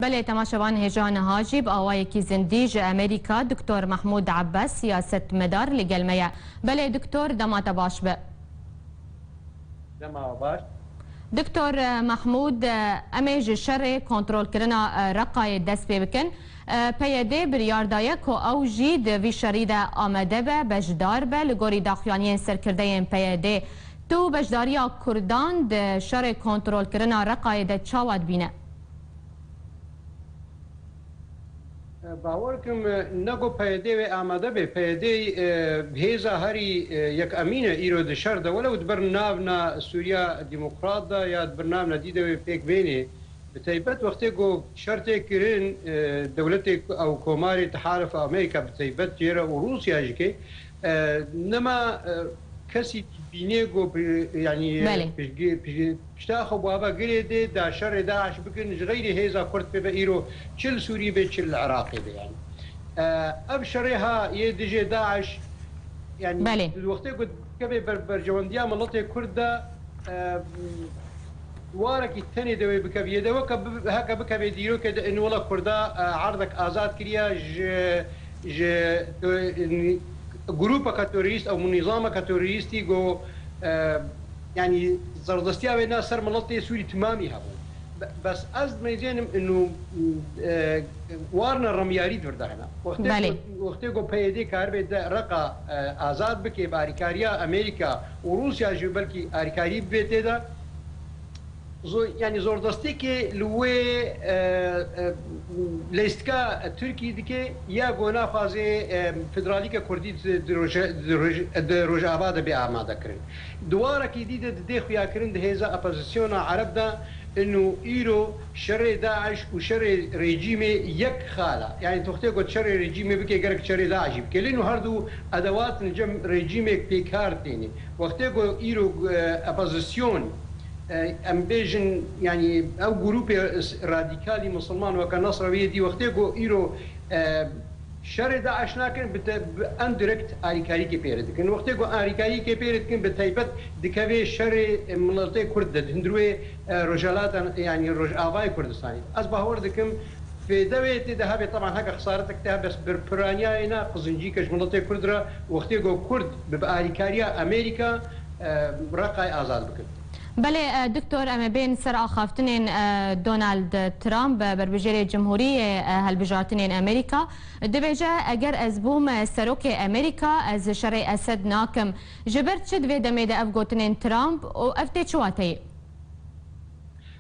Belê temaşevan hêja niha jî bi awayekî zindî ji Amerîka Doktor Mahmûd Abbas siyasetmedar li gel me ye. Belê Doktor dema te baş be. Dema baş. Doktor Mahmûd em ê ji şerê kontrolkirina Reqayê dest pê bikin. PYD biryar daye ku ew jî di vî şerî de amade be, beşdar be. Li gorî daxuyaniyên serkirdeyên PYD tu beşdariya Kurdan di şerê kontrolkirina Reqayê de çawa dibîne? Bawer kim ne ku PYD wê amade be. PYD hêza herî yekamîn e îro di şer de. Welew di bir navna Sûriya Demokrat de ya di bir navna dî de wê pêk bênê. Bi taybet wextê ku şer tê kirin dewletê ew komarê Tehaluf a Amerîka bi taybet jê re û Rûsya jî kê nema kesî dibînê ku yanî piştgirî. Pişta xwe bava girê dê da şerê DAIŞ bikin ji xeyrê hêza Kurd pê ve îro çi li Sûriyê bê çi li Iraqê bê yanî ev şerê ha yê dijê DAIŞ yanî Belê. di wextê ku dikeve ber berjewendiya miletê Kurd de warekî tenê dewê bikeviyê de weke heke bikevê dîrokê de in wila Kurda erdek azad kiriya ji ji yanî grûpeke terorîst ew nîzameke terorîstî ku Yanî zerdestiya wê na ser miletê Sûrî timamî hebû. Bes ez dimeyzênim inu warna remyarî di vir de hene. Wextê ku PYD karibê di Îreqa azad bikê bi arîkariya Amerîka û Rûsya jî belkî arîkarî bibê tê de yanî zordestiyekê li wê leyistika Tirkî dikê ya ku naxwaze federalîka Kurdî di Rojava de bê amadekirin. Di warekî dî de di dê xuyakirin di hêza opozisyona Ereb de in û îro şerê DAIŞ û şerê rejîmê yek xal e. Yanî toxtê got şerê rejîmê bike gerek şerê DAIŞ'î bike. Lê no her du edewat li cem rejîmê pêkar têne. Wextê ku îro opozisyon em bêjin yanî ew grûpê radîkalî misilman weke Nasrewiyê dî wextê ku îro Şerê DAIŞ nakin bi te bi em direkt arîkarîkê pêre dikin. Wextê ku arîkarîkê pêre dikin bi taybet dikevê şerê miletê kurd de di hundirwê Rojhilata yanî Rojavayê Kurdistanê de. Ez bawer dikim fêde wê tê de hebe teban heke xesaretek tê hebe bi piraniyayê ne qizincîke ji miletê kurd re wextê ku kurd bi bi arîkariya Amerîka Reqayê azad bikin. Belê diktor em ê bên ser axaftinên Donald Trump berbijêrê cimhurî yê helbijartinên Amerîka. Dibêje, eger ez bûm serokê Amerîka ez şerê Esed nakim. Ji ber çi di vê demê de ev gotinên Trump û ev tê çi wateyê?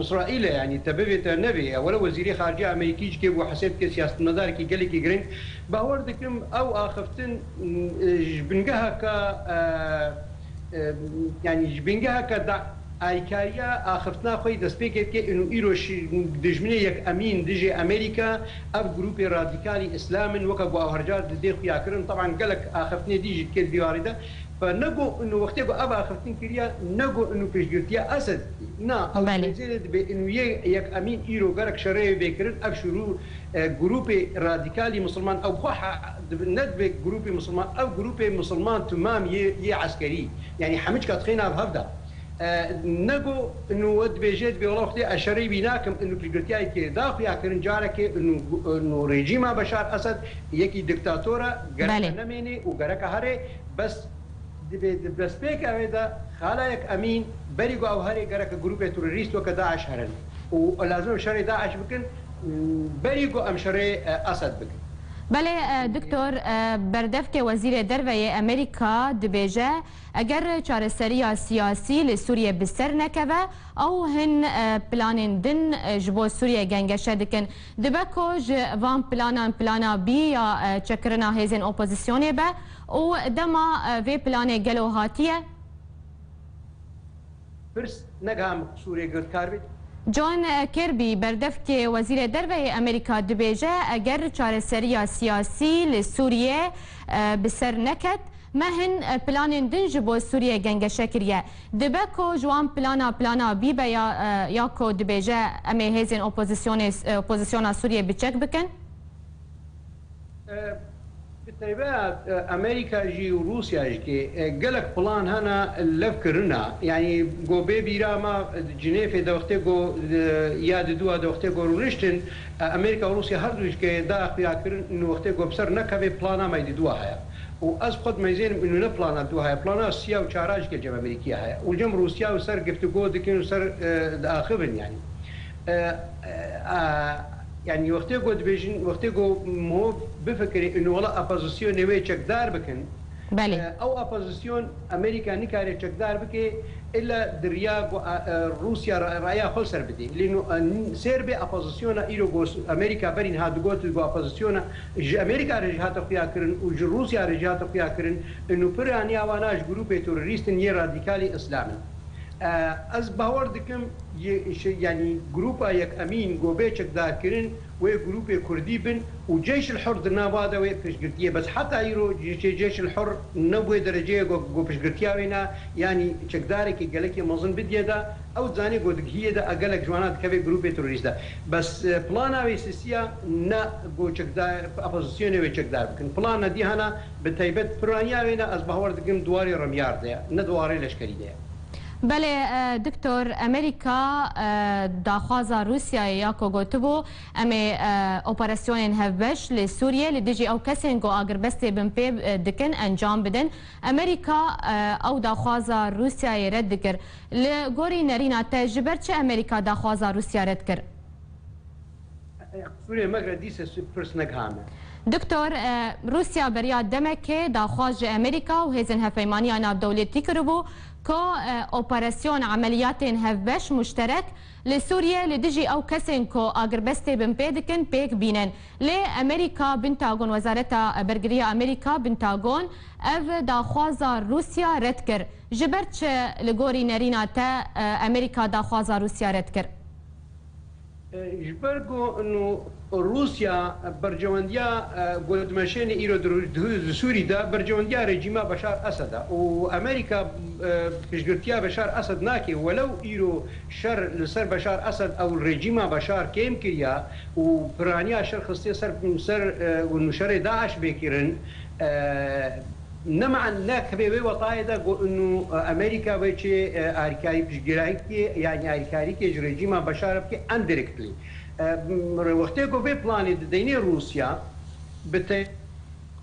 Îsraîlê yanî te bivê te nevê ye. Were wezîrê xaricîya Amerîkî ji kê bû hesê bike siyasetmedarekî gelekî giring. Bawer dikim ew axiftin ji bingeheke yanî ji bingeheke de alîkariya axiftina xwe yê destpêkê dike û îro ji dijminê yekemîn dijê Amerîka ev grûpê radîkalî îslam in weke ku ew hercar didê xuya kirin. Teban gelek axiftinê dî jî dike di vî warî de. Ba ne go inu wextê ku ev axiftin kiriye ne go inu piştgirtiya Esed na ew di Belê. nêzêrê dibe inu yê yek emîn îro gerek şereyê bê kirin ev şuru grûpê radîkalî misilman ew xwe ha dibe ne dibe grûpê misilman ew grûpê misilman timam yê yê eskerî yanî hemicka tixêne ev hev de. Nego inu we dibêje dibê wela xwedê eşereyî bî nakim inu piştgirtiyayî kê da xuya kirin carekê inu rejîma Beşar Esed yekî diktator e gereka nemênê û gereka herê bes dibê di destpêka wê de xalayek emîn berî ku ew herê gereka grûpê terorîst weke DAIŞ herin û lazim em şerê DAIŞ bikin berî ku em şerê Esed bikin. Belê diktor berdevkê wezîrê derve yê Amerîka dibêje. Eger çareseriya siyasî li Sûriyê bi ser nekeve ew hin planên din ji bo Sûriyê gengeşe dikin. Dibe ku ji van planan plana bî ya çekirina hêzên opozîsyonê be û dema vê planê gelo hatiye, Pirs, Ne giha min qisûrê girdkar bê? John Kirby, berdevkê Wezîrê Derve yê Amerîka dibêje, Eger çareseriya siyasî li Sûriyê bi ser neket, me hin planên din ji bo Sûriyê gengeşe kiriye. Dibe ku ji wan plana plana bîbe ya ya ku dibêje em ê hêzên opozisyonê opozisyona Sûriyê bi çek bikin. Bi taybet Amerîka jî û Rûsya jî kê gelek plan hene lev kirina. Yanî got bê bîra me di Cinêfê de wextê ku ya di dû a de wextê ku rûniştin Amerîka û Rûsya her dû jî kê daye xuya kirin û wextê ku bi ser nekevê plana me di dû a heye. Û ez xwe dimezênim îno ne plana di dû a heye plana siya û çar a jî kê cem Amerîkî a heye û cem Rûsya û ser giftigo dikin û ser diaxivin yanî. Yanî wextê ku dibêjin, wextê ku mirov bifikirê û wela opozisyonê wê çekdar bikin, ew opozisyon Amerîka nikare çekdar bike îlla di riya ku Rûsya raya xwe li ser bidê. Lê sêr be opozisyona îro ku Amerîka berîn hat digot ku opozisyona ji Amerîka re jî hate xuyakirin û ji Rûsya re jî hate xuyakirin û pir aniya wan a ji grûpê terorîst in yên radîkalê îslam in. Ez bawer dikim yanî grûpa Yekemîn gobê çekdarkirin wê grûpê kurdî bin û Ceyş El Hur di nava de wê piştgirtiyê bes heta îro Ceyş El Hur ne bûye dereceyê ku ku piştgirtiya wê na yanî çekdarekî gelekî mezin bidiye de ew dizanê ku digihiyê de a gelek ji wan a dikeve grûpê terorîst de bes plana wê sisiya ne ku çekdar opozisyonê wê çekdar bikin plana dîhan a Bi taybet piraniya wê ne ez bawer dikim di warê remyar de ye, ne di warê leşkerî de ye. Belê Diktor, Amerîka daxwaza Rûsyayê ya ku gotibû em ê operasyonên hevbeş li Sûriyê li dijî ew kesên ku agirbestê bin pê dikin encam bidin, Amerîka ew daxwaza Rûsyayê red dikir. Li gorî nerîna te ji ber çi Amerîka daxwaza Rûsya red kir? Doktor, Rûsya beriya demekê daxwaz ji Amerîka û hêzên hevpeymaniya navdewletî kiribû ku operasyon, emeliyatên hevbeş, muşterek, li Sûriyê li dijî ew kesên ku agirbestê binpê dikin pêk bînin. Lê Amerîka, Pentagon, Wezareta Bergiriya Amerîka, Pentagon, ev daxwaza Rûsya red kir. Ji ber çi li gorî nerîna te Amerîka daxwaza Rûsya red kir? Ji ber ku nu Rûsya berjewendiya gotmeşênê îro dihûze di Sûrî de berjewendiya rejîma Beşar Esed e û Amerîka piştgirtiya Beşar Esed nake welew îro şer li ser Beşar Esed ew li rejîma Beşar kêm kiriya û piraniya şer xistiye ser ser ku nu şerê DAIŞ bê kirin Ne ma ne kibê wê wetayê de got û Amerîka wê çê alîkarî piştgîrayîkê yanî alîkarîkê ji rejîma Beşar bikê em dirêk dilê. Rê wextê ku vê planê dideynê Rûsya bi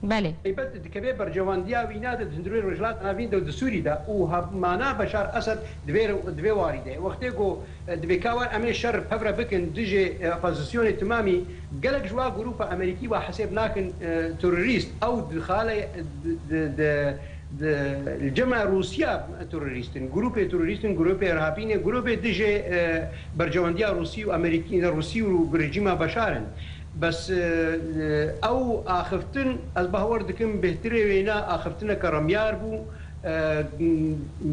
Belê. Taybet dikeve berjewandiya wîna de di hundirûyê Rojhilata Navîn de û di Sûrî de û hevmana Beşar Esed di vê di vê warî de wextê ku dibê ka war em ê şer pevre bikin dijê opozîsyonê timamî Gelek ji wa grûpa Amerîkî wa hesêb nakin terorîst ew dixale li cema Rûsya terorîst in. Grûpê terorîst in, grûpê irhabî ne, grûpê dijê berjewendiya Rûsî û Amerîkî ne, Rûsî û rejîma Beşar in. Bes ew axiftin ez bawer dikim bêhtirê wêne axiftineke remyar bû,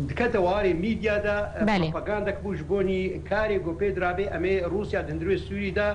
dikete warê mîdya de, propagandek bû ji bo nî karê ku pê dirabê em ê Rûsya di hundirê Sûrî de